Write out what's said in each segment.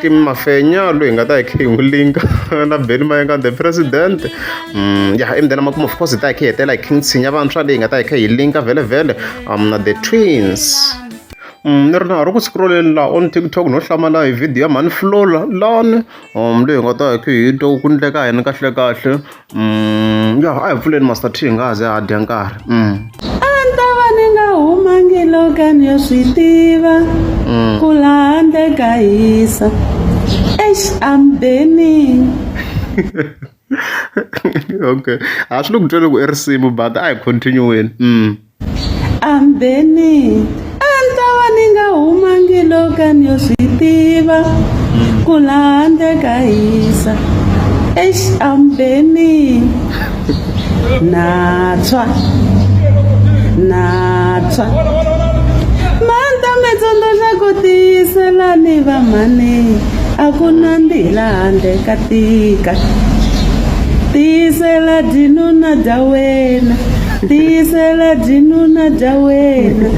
Kim Mafenya loyi hi nga ta hi khe hi n'wi linka na Benny Mayengani the president um ya emdeni makumu of course hi ta hi khe hi hetela hi King Tshinya vantshwa leyi hi nga ta hi khe hi linka vhele vhele um na the twins Mm, ni ri na ha ri ku scrolleni laha on tiktok no hlamala hi video ya mhani flola lani um leyi hi nga ta hi khe hi twa ku ku endleka yini kahlekahle Mm, ya a hi pfuleni master t hi nga ha ze ha dya nkarhi mm. a ni ta va ni nga humangi loka ni yo swi tiva mm. ku laha ndze ka hisa ex am burning okay a swi le ku tweni ku i risimu but a hi continue-weni mm. ambeni a ni ta va ni nga humangi loka ni yo swi tiva ku laha ndze ka hisa exi ambeni natswa natswa manta mi tsundzuxa ku tiyiselani vamhani a ku na ndhi laha ndle ka tika tiyisela dinuna dya wena tiyisela byinuna bya wena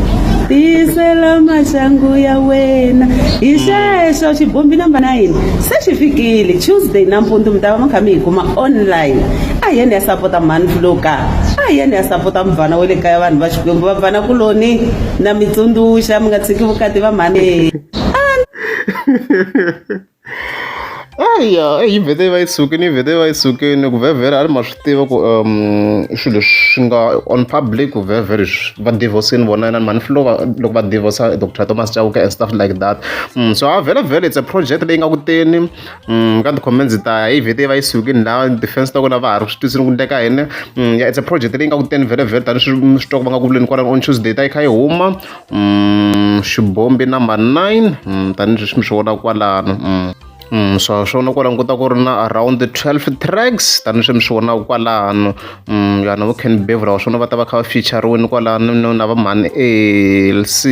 tiyisela maxangu ya wena hi xexo xibombi namba 9 se xi fikile tuesday nampundzu mi ta va mi kha mi hi kuma online a hi yeni ya sapota mhani fuloka a hi yeni ya sapota muvana wa le kaya vanhu va xikwembu va vana kuloni na mi tsundzuxa mi nga tshiki vukati va mhani eya yi vhete yi va yi sukile yi vhete yi va yi sukile ku vhevhela a ri ma swi tiva ku um swilo leswi nga on public ku vhevhela leswi va divorce-ini vona inani mhani filo loko va divorce doctor thomas chauke and stuff like that mm, so a vhele vhele it's a project leyi nga kuteni mm, ka ti-comments ta yi vhete yi va yi sukile la defense ta kona va ha ri swi tisini ku ndleka yini mm, ya it's a project leyi nga kuteni vhele vhele tani swi swi twa ku va nga ku vuleni kwalani on tuesday ta yi kha yi huma mm, xibombi number 9 mm, tanihileswi mi swi vona kwalano mm. Mm, swa swona kwala nkuta ku ri na around 12 tracks tanihileswi mi swi vonaka kwalano mm, yana vo can bevra wa swona va ta va kha va featureweni kwalano no na va mhani alc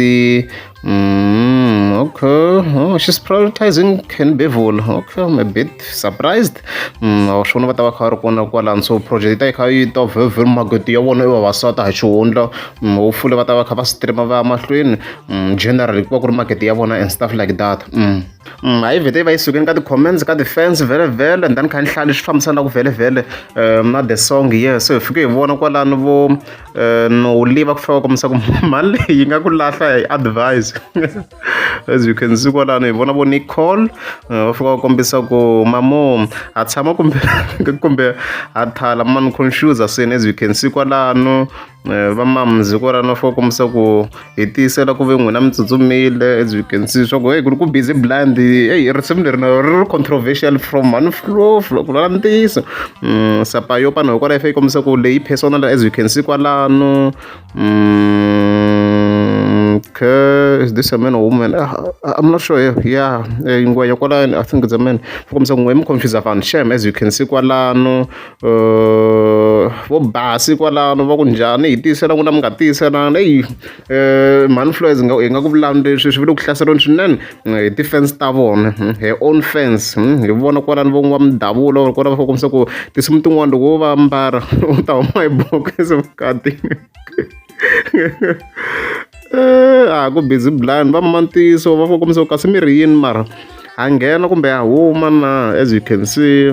mm, okay oh, she's prioritizing can bevula okay i'm a bit surprised wa swi vona va ta va kha va ri kona kwalano so project yi ta yi kha yi ta vhevhela makoti ya vona i vavasati hi xihundla hopefully va ta va kha va stream va ya mahlweni generally ku va ku ri market ya vona and stuff like that a yi vhete yi va yi sukeni ka ti-comments ka ti-fans vhele vhele and then kha ni hlaya leswi fambisanaka vhele vhele na the song yeah so hi fike hi vona kwalano vo no live ku fika va kombisa ku mali leyi yi nga ku lahla hi advise as you can see kwalano hi vona vo nicole eh, va fika va kombisa ku mamo ha tshama kumbe kumbe ha thala mani confusa swini as you can see kwalano eh, va mamzi kwalano va fika va kombisa ku hi tiyisela ku ve n'wina mi tsutsumile as you can see swa ku heyi ku ri ku busy blind eyi risimu leri na ri ri controversial from mani flo flo ku lala ntiyiso Mm, sapa yo pano hikwalaho yi fika yi kombisa ku leyi personal as you can see kwalano Mm, okay, is this a man or woman? Uh, I'm not sure. Yeah, eh, ngwenya kwalano. I think it's a man. Fukomisa ngwe mu confuse vanhu. Shame as you can see kwalano. Uh, vo basi kwalano va kunjani hi tiyisela n'wina mi nga tiyiselana eyi um eh, mhani floyes nga hi nga ku vulani leswi swi vile ku hlaselweni swinene hi ti-fans ta vona hmm, hi own fans hmm, hi vona kwalani va n'wa mindhavulo or kwala va fa kombisa ku tinsimu tin'wana loko wo va mbara u ta huma hi bokisi vukati eh, a ku busy blind va mantiso va fa kombisa ku kasi mi ri yini mara ha nghena kumbe ha huma na as you can see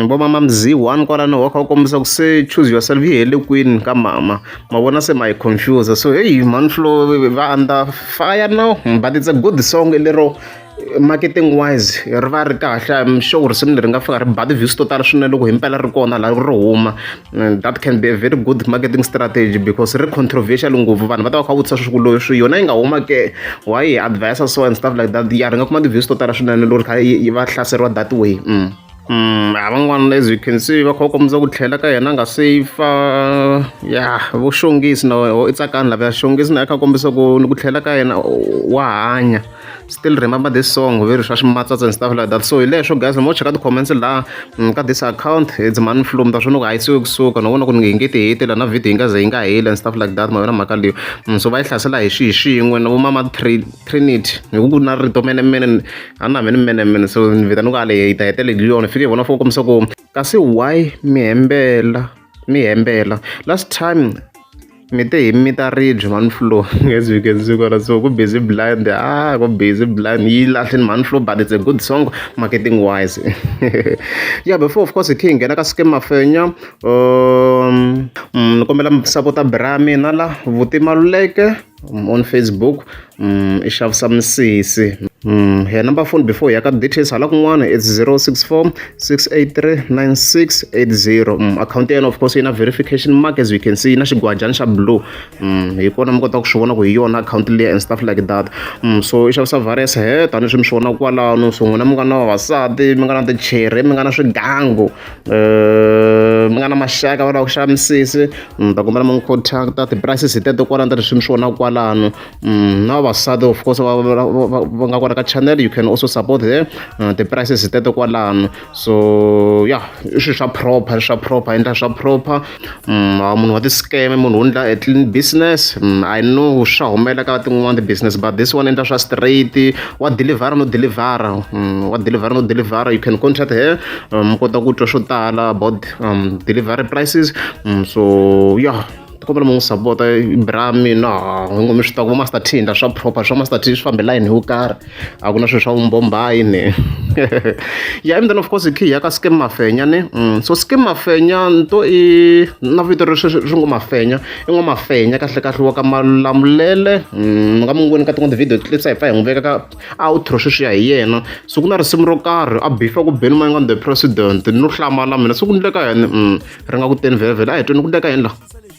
vo mama Mzee one kwalano wa kha u kombisa ku se choose yourself yi hele kwini ka mama ma vona se ma yi confuse so heyi mhani flo va under fire now but it's a good song lero marketing wise ri va ri kahle I'm sure risimu leri nga fika ri ba ti-views to tala swinene loko himpela ri kona laha ri huma Mm, that can be a very good marketing strategy because ri controversial ngopfu vanhu va ta va kha vutisa swiku leswi yona yi nga huma ke why yi advisa so and stuff like that ya ri nga kuma ti-views to tala swinene loko kha yi va hlaseriwa that way mm. Mm, van'wana as you can see va kha va kombisa ku tlhela ka yena a nga safe ya vo xongisi na i tsakani lava ya xongisi na ya kha kombisa ku ni ku tlhela ka yena wa hanya still remember this song very swa swimatsatsa and stuff like that so hi leswo guys mo cheka ti-comments laha mm, ka this account it's mani flu mi ta swi loko a yi siwe kusuka no vona ku ni nge ngeti hete la na video yi nga ze yi nga heli and stuff like that ma yona mhaka leyo mm, so va yi hlasela hi swihi swin'we na vomama trinity hi ku ku na rito mene mene a ni na mene mene mene so ni vita ni ku ale yi ta hetele hi yona fike hi vona fo kombisa ku kasi why mi hembela mi hembela last time Mi te hi mita ribye mhani flu as you can see kwala so ku busy blind ah ku busy blind yi lahlini mhani flu but it's a good song marketing wise yeah before of course hi khe hi nghena ka scam mafenya um mm, ni kombela mi sapota bra mina la vuti maluleke on facebook i xavisa misisi ya number phone before hi ya ka details hala kun'wana it's zero six four six eight three nine six eight zero akhawunti ya yena of course yi na verification mark as you can see yi na xigwajana xa blue hi kona mi kotaka ku swi vona ku hi yona akhawunti leyi and stuff like that so i xavisa virus he tanihi swi mi swi vonaka kwalano so n'wina mi nga na vavasati mi nga na tichere mi nga na swigangu um mi nga na maxaka va lava ku xava misisi mm, ta kombela mi n'wi contacta ti-prices hi teto kwalano ta leswi mi swi vonaka kwalano mm, na vavasati of course va nga kona ka channel you can also support her mm, ti-prices hi teto kwalano so ya i swilo swa proper swa proper endla swa proper munhu wa ti-scam munhu u ndla a clean business I know swa humelela ka tin'wani ti-business but this one endla swa straight wa dilivhara no dilivhara wa dilivhara no dilivhara you can contract her mi kota ku twa swo tala about delivery prices so ya kombela mi n'wi sapota bra mina hi ngo mi swi tiva ku vo master t hi ndla swa proper swa master t swi famba hi layeni yo karhi a ku na swilo swa vumbombayi ni ya and then of course hi khiya ka skim mafenya ni mm. so skim mafenya nto i na vito ri swi ngo mafenya i ngo mafenya kahle kahle wa ka malamulele ni mm, nga mu n'wi voni ka tin'wana ti-video clips a hi fa hi n'wi veka ka outro sweswiya hi yena so ku na risimu ro karhi a bifa ku beni manyi nga the president no hlamala mina so ku ndleka yini mm, ri nga ku teni vhele vhele a hi tweni ku ndleka yini laha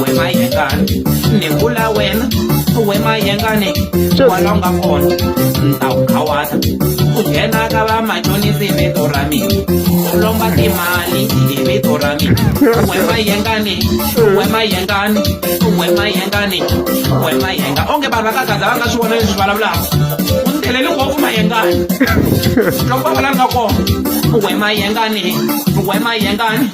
we mayengani ni vula wena we mayengani wala u nga kona ni ta wu khawata u nghena ka va machonisi hi vito ra mina u lomba timali hi vito ra mina we mayengani we mayengani we mayengani we mayenga onge vanhu va ka gaza va nga swi vona leswi vulavulaka u ni theleli ngopfu mayengani loko va vulavula kona we mayengani we mayengani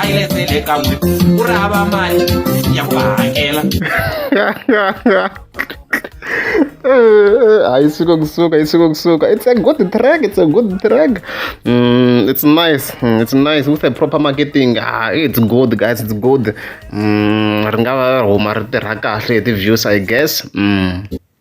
a yi letele ka n'we ku ri hava mali ya ku va hakela hayi suka kusuka yi suka kusuka it's a good track it's a good track mm, it's nice mm, it's nice with a proper marketing ah, it's good guys it's good mm, ri nga va huma ri tirha kahle hi ti-views i guess mm.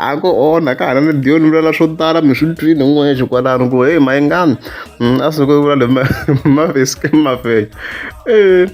a ku onha ka hana ni diyo ni vulela swo tala mi swi twile n'wexe kwalano ku heyi mayingani mm, a suke vula le mavesike mavenya um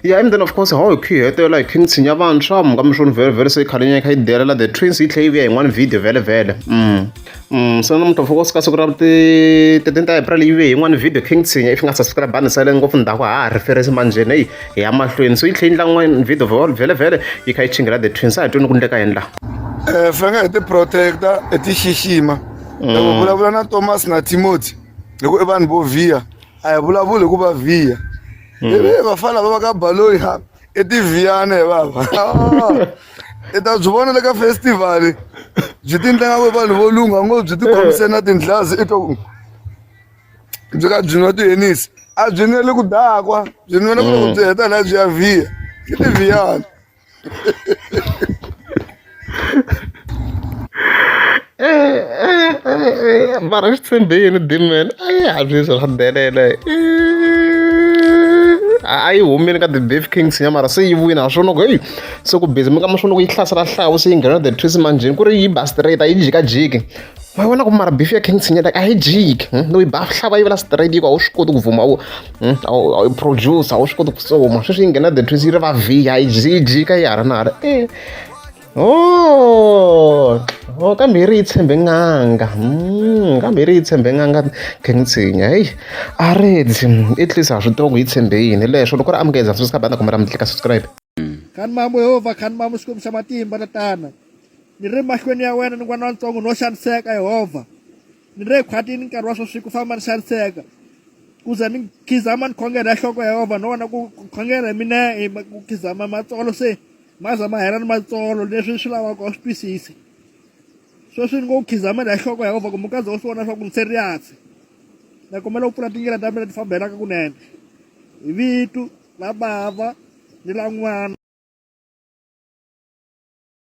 ya and then of course how hi khi hi hetelela hi khi ni tshinya vantshwa muka mi swo ni vhele vhele se yi khale nyana yi kha yi delela the twins yi tlhe yi vuya yin'wana video vhele vhele um mm. Mm, swi na namuntlha mfuko suka siku ra ti-thirteen ta april yi ve yin'wana video king tshinya if nga subscribe ni sale ngopfu ndhaku ha ha reference manjheni eyi hi ya mahlweni so yi tlhe yi ndla n'wana video vol vhele vhele yi kha yi chingela the twins a hi twini ku ndleka yendla um fange hi ti-protecta hi ti xixima mm. loko vulavula na thomas na timothy hi ku i vanhu vo vhiya a hi vulavuli hi ku va vhiya mm. ivi vafana va va ka baloyi ha i tiviyane vava i ta byi vona le ka festival byi ti ndlanga ku vanhu vo lungha ngo byi ti khomise na tindlazi i to byi ka byi nwa tihenisi a byi nweli ku dakwa byi nwela ku loko byi heta laha byi ya vhiya i tiviyane bara xi tshembile ni dimela a yi hatli swa swa delela a yi humile ka the beef kings ya mara se yi vuyini ha swona ku heyi se ku busy mi ka ma swona ku yi hlasela hlawu se yi nghena the twist manjheni ku ri yi ba straight a yi jikajiki ma vona ku mara beef ya king sinyata a yi jiki hmm? no yi ba hlava yi vela straight yiko a wu swi koti ku vuma wu hmm? a wu produce a wu swi koti ku soma sweswi yi nghena the twist yi ri va vhiya a yi jika yi ha ri na ha ri e Oh, oh kambe yi ri yi tshembe n'anga mm, kambe yi ri yi tshembe n'anga khengitshinya heyi a redzi i tlisa ha swi tiva ku yi tshembe yini leswo loko ri amukeza swi ska banda kumbe ra mi tlika subscribe khani mamu yehovha khani mamu xikwembu xa matimba tatana ni ri mahlweni ya wena ni n'wana wantsongo no xaniseka yehovha ni ri ekhwatini nkarhi wa sweswi ku famba ni xaniseka ku ze ni khizama ni khongela ya nhloko ya yehovha no vona ku khongela hi mina hi ku khizama matsolo se maza ma hela ni matsolo leswi swi lavaka u swi twisisa sweswi ni ngo khizamela hi nhloko ya yehova kumbe kaze u swi vona swa ku ni serious na kombela u pfula tindlela ta mina ti fambelaka kunene hi vitu la bava ni la n'wana